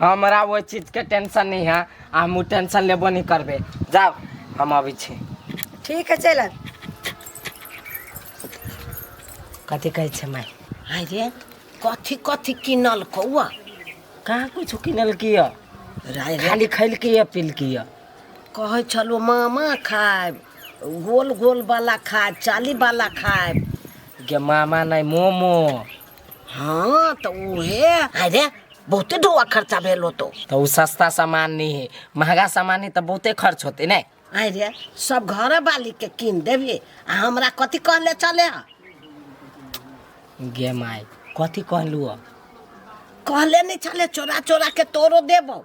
हमरा ओहि चीजके टेंशन नहि है आ हमहूँ टेंशन लेबो नहि करबै जाउ हम अबै छी ठीक है चल आब कथी कहै छै माय आइ रे कथी कथी किनल कौआ कहाँ कुछ किनल किया राय रे खाली खैलकी या पिलकी या कहै छलो मामा खायब गोल गोल वाला खायब चाली वाला खायब गे मामा नहि मोमो हाँ तो उहे अरे बहुते ढोआ खर्चा भेल होतो तो उ सस्ता सामान नहीं है महंगा सामान है तो बहुते खर्च होते नहीं अरे सब घर वाली के कीन देबे आ हमरा कथी कहले चले हा गे माई कथी कहलू कहले नहीं चले चोरा चोरा के तोरो देबो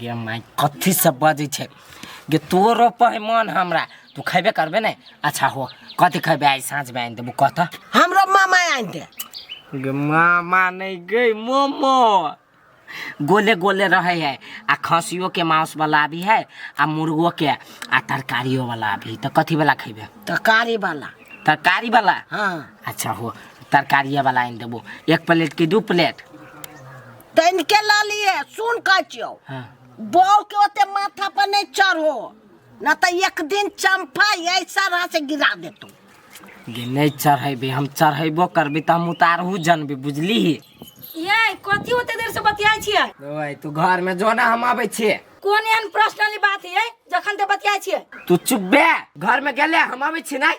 गे माय कथी सब बजै छै गे तोरो पहे मन हमरा तू खैबे करबे ने अच्छा हो कथी खैबे आइ साँझ में आनि देबू कह तऽ हमरो मामा आनि दे गे मामा नहीं गई मोमो गोले गोले रहे है आ खसियो के मांस वाला भी है आ मुर्गो के आ तरकारियो वाला भी तो कथी वाला खेबे तरकारी वाला तरकारी वाला हाँ अच्छा हो तरकारिये वाला आनि देबो एक प्लेट की दू प्लेट तैन के ला लिए सुन कह छियो हाँ। बौ के ओते माथा पर नहीं चढ़ो न तो एक दिन चंपा ऐसा रहा से गिरा दे तू ये नहीं चढ़ेबे हम चढ़ेबो करबे तो हम उतारहू जानबे बुझली ही ये कथी होते देर से बतियाई छियै ओए तू घर में जो ना हम आबे छिए कोन एहन पर्सनली बात है जखन ते बतियाई छियै तू चुप बे घर में गेले हम आबे छी नहीं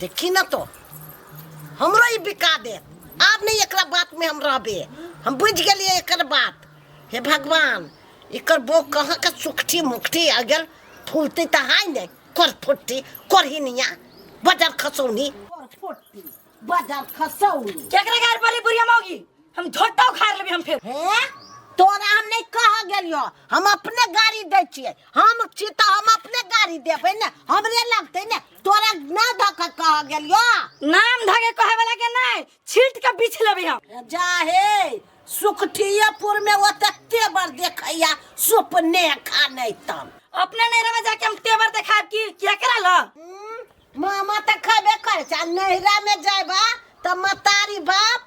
जे किनतो हमरो ई बिका देत आब नहि एकरा बातमे हम रहबै हम बुझि गेलियै एकर बात हे भगवान एकर बो कहाँके सुखठी मुखठी आ गेल फूलतै तऽ हाय नहि कर फुट्टी करहिनिया बजर खसौनी कर फुट्टी बजर खसौनी केकरा गार पले बुढ़िया मौगी हम झोटा उखाड़ लेबे हम फेर हे तोरा हम नहि कह गेलियो हम अपने गाड़ी दै छियै हम छी तऽ हम अपने गाड़ी देबै ने हमरे लगतै ने तोरा ना धक कह गेलियो नाम धके कहे वाला के नहीं छीट के बीछ लेबे हम जा हे सुखठियापुर में वो तक तेवर देखैया सुपने खा नहीं तम अपने नहरा में जाके हम तेवर देखाब की क्या करा ल मामा तक खबे कर चा नहरा में जाबा त मतारी बाप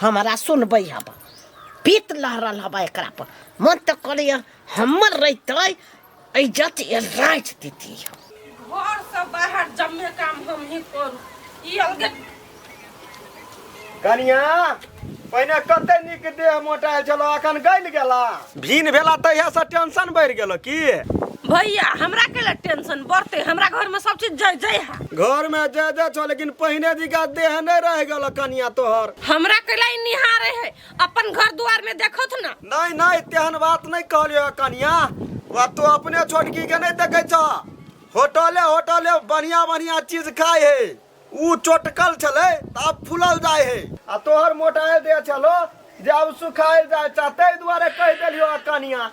हमारा सुनबै हब पीत लहरल हब एकरा पर मन तो करे हमर रहते इज्जत ये राज देती घर से बाहर जम्मे काम हम ही करू ई अलगे कनिया पहिने कते नीक देह मोटायल छलो अखन गल गेला भीन भेला तहिया से टेंशन बढ़ गेलो की भैया हमरा के लिए टेंशन बढ़ते हमरा घर में सब चीज जय जय है घर में जे जे छो लेकिन पहिने दिका देह नहीं रह गेलो कनिया तोहर हमरा के लिए निहारे है अपन घर द्वार में देखो थ ना नहीं नहीं तेहन बात नहीं कहलियो कनिया वह तो अपने छोटकी के नहीं देखे छ होटले होटले बढ़िया बढ़िया चीज खाए है ऊ चोटकल छलै तऽ आब फुलल जाइ हे। आ तोहर मोटायल देह छलौ जे आब सुखायल जाइ छह। तइ दुआरे कहि देलियौ हँ कनियाँ।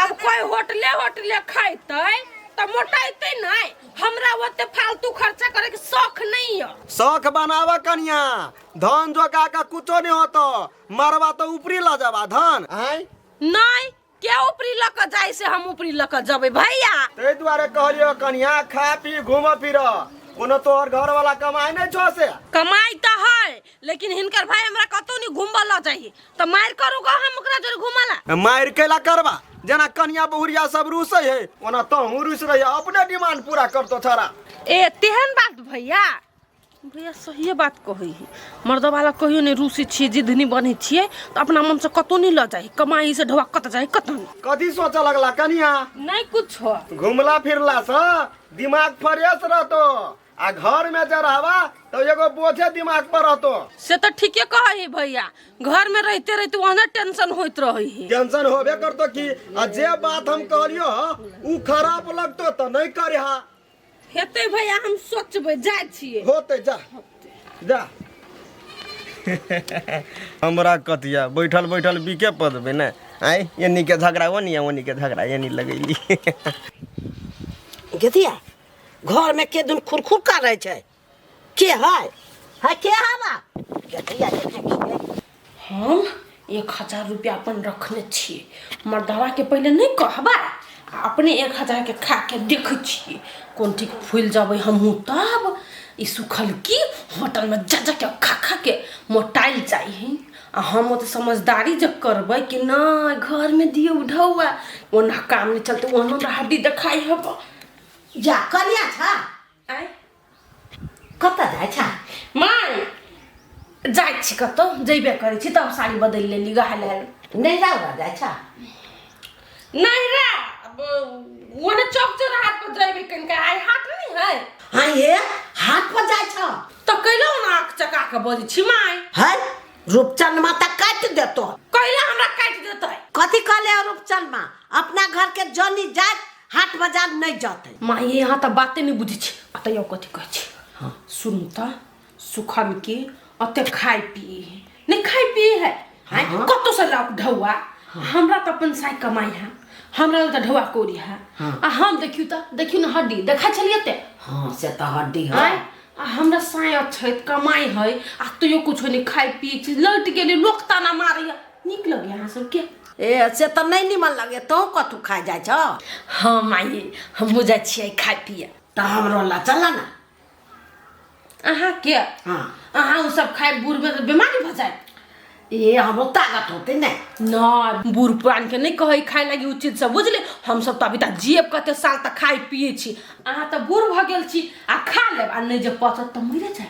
आब कोइ होटले-होटले खइतइ तऽ मोटइतइ नइ। हमरा ओते फालतू खर्चा करइ के सौख नइ यऽ। सौख बनाबह कनियाँ। धन जोगा कऽ कुछो नइ होतौ। मरबह तऽ उपरी लऽ जेबह धन। आँय? नइ, के ऊपरी लऽ कऽ जाइ से हम ऊपरी लऽ कऽ जेबै भैया ताहि दुआरे कहलियो कनिया खा पी घूम फिर कोनो तोहर घर वाला कमाई नहीं छो से कमाई तो है लेकिन हिनकर भाई हमरा कतौ नहीं घूमबा लऽ जाही तो मार करूगा हम ओकरा जोर घूमला मार केला करबा जना कनिया बहुरिया सब रूस है ओना तो हूँ रूस रही अपने डिमांड पूरा करतो थोड़ा ए तेहन बात भैया भैया सहिए बात कहै है मर्दवाला कहियो नहि रूसी छियै जिद नहि बनै छियै तऽ अपना मनसँ कतहु नहि लऽ जाइ कमाई से ढोआ कतऽ जाइ कतहु नहि कथी सोचऽ लगला कनिया नहि कुछो घुमला फिरला से दिमाग फ्रेश रहतो आ घर में जे रहबा तो एगो बोझे दिमाग पर रहतो से तऽ ठीके कहै है भैया घरमे रहिते रहिते ओहने टेंशन होइत रहै है टेंशन होबे करतो कि आ जे बात हम कहलियो ह, ऊ खराब लगतो तो नहीं करे हा हेतै भैया हम सोचबै जाइ छियै होते जा जा हमरा कतिया बैठल बैठल बिके पदबे ने आय एनी के झगड़ा ओनी ओनी के झगड़ा एनी लगैली गेतिया घरमे के दिन खुरखुर का रहै छै के है है के है बा देखिया देखे के हम एक हजार रुपया अपन रखने छिए मर्दवा के पहिले नहीं कहबा आ अपने एक हजार के खा के देखे छिए कोन ठीक फूल जाबे हमहूँ तब ई सुखल की होटल में जा जा के खा खा के मोटाइल जाई आ हम तो समझदारी जब करबै कि ना घर में दियो ढौआ ओना काम नहीं चलते ओनो हड्डी देखाई हबा जा कनिया छा आय कतऽ जाइ छ माय जाइ छी कतौ जइबे करै छी तब साड़ी बदलि लेली गहा लेल नहि जाउ ने जाइ छ नहि रे अब ओने चौक चौराहा पर जइबे कनिका आइ हाट नहीं है हाँ ये हाट पर जाइ छ तो कैलो ना आँख चका के बजै छी माय है रूपचंद माता काटि देतो कैला हमरा काटि देतै कथी कहले हो रूपचंद माँ अपना घर के जनी जात हाट बाजार नहीं जाते माँ ये यहाँ तक बातें नहीं बुझी छी अतः यो कथी कह छी हाँ सुन तो सुखन के अतः खाए पिए है नहीं खाए पिए है हाँ, हाँ। कतो से लाओ ढौआ हाँ। हमरा तो अपन साई कमाई है हमरा लग तो ढौआ कोरी है हाँ। आ हम देखियो तो देखियो ना हड्डी देखा चलिए ते हाँ से तो हड्डी है आय आ हमरा साय अच्छे कमाई है आ तो यो कुछ नहीं खाए पिए छी लौट गेली लोग ताना मारी है नीक लगे अहाँ सबके ए से तऽ नहि निमन लगे तो कतू खा जाइ छ हाँ माई हमहूँ जाइ छियै खाय पिए तऽ हमरो ला चल ना अहाँ के हाँ अहाँ उ सब खाए बूढ़ में तऽ बीमारी भऽ जाए ए हमरो ताकत होते ने ना बूढ़ पुरान के नहीं कहे खाए लगी उ चीज सब बुझले हम सब तऽ अभी तक जियब कते साल तक खाए पिए छी अहाँ तऽ बूढ़ भऽ गेल छी आ खा लेब आ नहीं जे पचत तऽ मरे जाए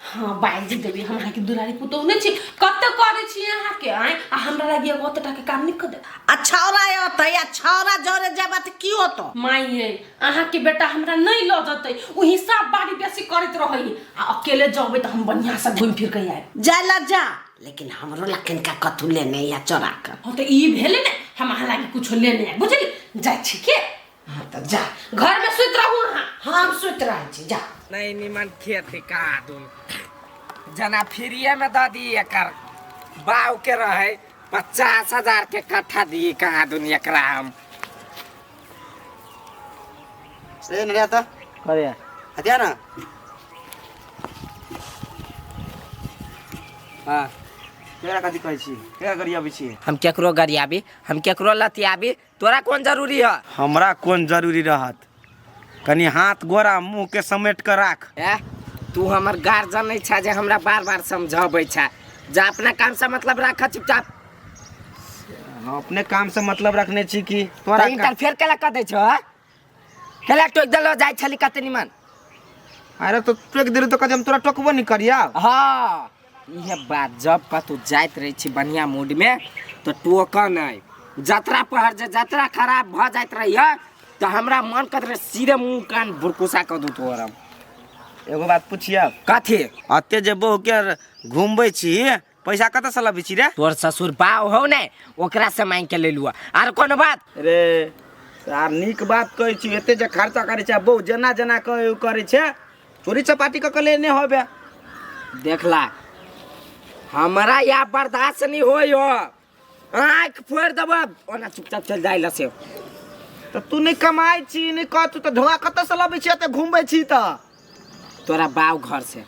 हाँ बाइज देबी हम अहाँके दुलारी पुतोह नहि छी कतऽ करै छी अहाँके आँय आ हमरा लागि एगो ओतऽ टाके काम नहि कऽ देब आ छौरा अतै आ छौरा जरे जेबा तऽ की होतो माई ये अहाँके बेटा हमरा नहीं लऽ जतै ओ हिसाब बारी बेसी करैत रहै आ अकेले जबै तऽ हम बढ़िया से घूम फिर के आएब जाय ला जा लेकिन हमरो ला किनका कथू लेने या चोरा कर हाँ तऽ ई भेलै ने हम अहाँ लागि कुछो लेने आएब बुझली जाइ छी के हाँ तब जा घर में सुत रहू हाँ हम सुत रहे छी जा नहीं निमन खेत है का दून जना फ्रीए में दे दी एकर बाव के रहे पचास हजार के कट्ठा दी कहाँ दून एकरा हम ए नरिया त अरे हतिया न हाँ केरा कथी कहै छी केरा गरियाबै छी हम केकरो गरियाबी हम केकरो लतियाबी तोरा कोन जरूरी है हमरा कोन जरूरी रहत कनी हाथ गोरा मुंह के समेट के राख ए तू हमर गार्जियन नहीं छा जे हमरा बार बार समझाबै छा जा अपना काम से मतलब राख चुपचाप हम अपने काम से मतलब रखने छी कि तोरा तोरा का- इंटरफेयर केला कर दै छो हेला टोक देलो जाइ छली कते निमन अरे तो टोक देलू तो कदम तोरा टोकबो नहीं करिया हाँ इहे बात जब कतौ जाइत रहै छी बढ़िया मूड में तो टोक नहीं जतरा पहर जे जतरा खराब भ जाइत रहिए तो हमरा मन करत रहे सीधे मुंह कान भुरकुसा क दू तोरम एगो बात पूछिया कथी अते जे बहु के घूमबै छी पैसा कतऽ से लबी छी रे तोर ससुर बाव हो ने ओकरा से मांग के ले लुआ आर कोनो बात रे सार नीक बात कहै छी एते जे खर्चा करै छै बहु जेना जेना कहै ओ करै छै चोरी चपाटी कऽ के लेने होबे देखला हमरा या बर्दाश्त नहीं होय हो आँखि फोड़ि देबऽ ओना चुपचाप चलि जाइ लऽ से तऽ तू नहि कमाइ छी नहि कह तू तऽ ढोआ कतऽसँ लबै छी एतऽ घुमबै छी तऽ तोरा बाव घर से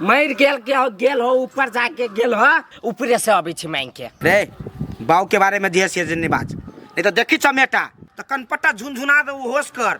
मरि गेल के हो गेल हो ऊपर जाके गेल हो ऊपरे से अबै छी मांग के रे बाऊ के बारे में दिए से जे नहीं बाज नहीं तो देखी चमेटा तो कनपट्टा झुनझुना दे होश कर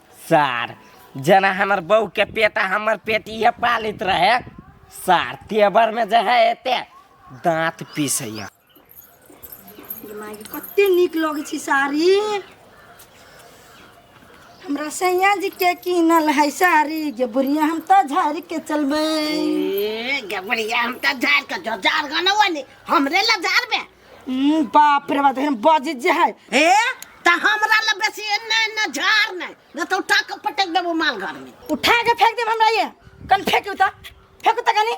सार जेना हमर बहू के पेट आ हमर पेट इहे पालित रहे सार तेवर में जे है एते दांत पीसैया गे माय गे, कते नीक लगै छै साड़ी हमरा सैया जी के कीनल है साड़ी गे बुढ़िया हम तऽ झाड़ि के चलबै ए गबड़िया हम त झाड़ के जो झाड़ गनवा ने हमरे ला झाड़ में हम्म, बाप रे बाप देखिन बज जे है ए त हमरा ले बेसी एन्ने एन्ने झाड़ नै न त उठा के पटक देबो माल घर में उठा के फेंक देब हमरा ये कन फेंकू त फेंकू त कनी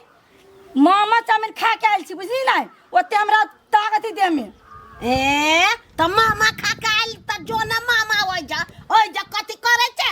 मामा चाउमिन खा के आयल छी बुझली ना ओते हमरा ताकत ही देह में ए त मामा खा के आइल त जो न मामा ओइ जा ओइ जा कथी करे छे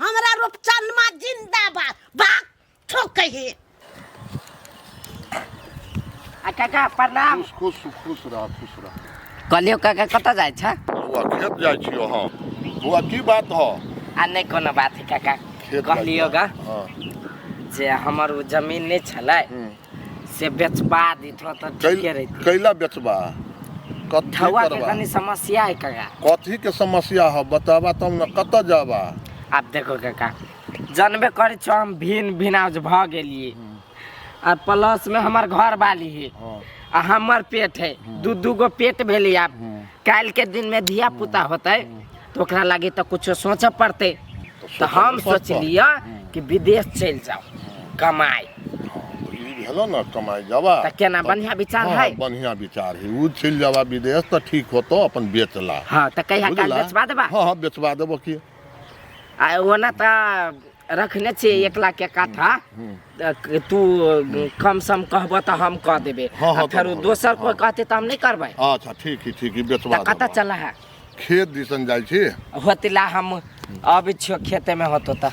हमरा रूपचनमा जिंदाबाद बात ठोकै हे आ काका प्रणाम खुश खुश खुश रह खुश रह कहलियो काका कतऽ जाइ छ बौआ खेत जाइ छियो हम बौआ की बात ह आ नहि कोनो बात है काका खेत जाइ कहलियो छियो। गा हँ जे हमर ओ जमीन नहि छलै हूँ। से बेचबा दैत हो तऽ ठीके कैल- रहित कैला बेचबा कथी धौआ के करबा कनी समस्या है काका कथी के समस्या हो बताबा तब न कतऽ जाबा आब देखो काका जानबे करै छौ हम भिन भिनाज भऽ गेलियै आ प्लस में हमर घर वाली है हँ, आ हमर पेट है दू दू गो पेट भेलै आब हँ। काल्हि के दिन में धिया पुता होतै तऽ ओकरा लागी तऽ कुछो सोचऽ पड़तै तऽ हम सोचलिए कि विदेश चलि जाउ कमाइ भेलो ने कमाइ जाबा तऽ केना बढ़िया विचार है बढ़िया विचार है ओ चलि जाबा विदेश तऽ ठीक होतो अपन बेचला हाँ तऽ कहिया काल बेचवा देबा हाँ हाँ बेचवा देबो की आ ओना तऽ रखने छियै एक लाख के काठा हम्म। त क- तू कम सम कहबऽ तऽ हम कह देबै हाँ, हाँ, आ फेर तब हम- दोसर कोइ कहते तऽ हम नहि करबै अच्छा ठीक है ठीक है बेचवा तऽ कतऽ देबऽ। चल है खेत दिसन जाइ छी होतिला हम अबै छियो खेते में होतो तऽ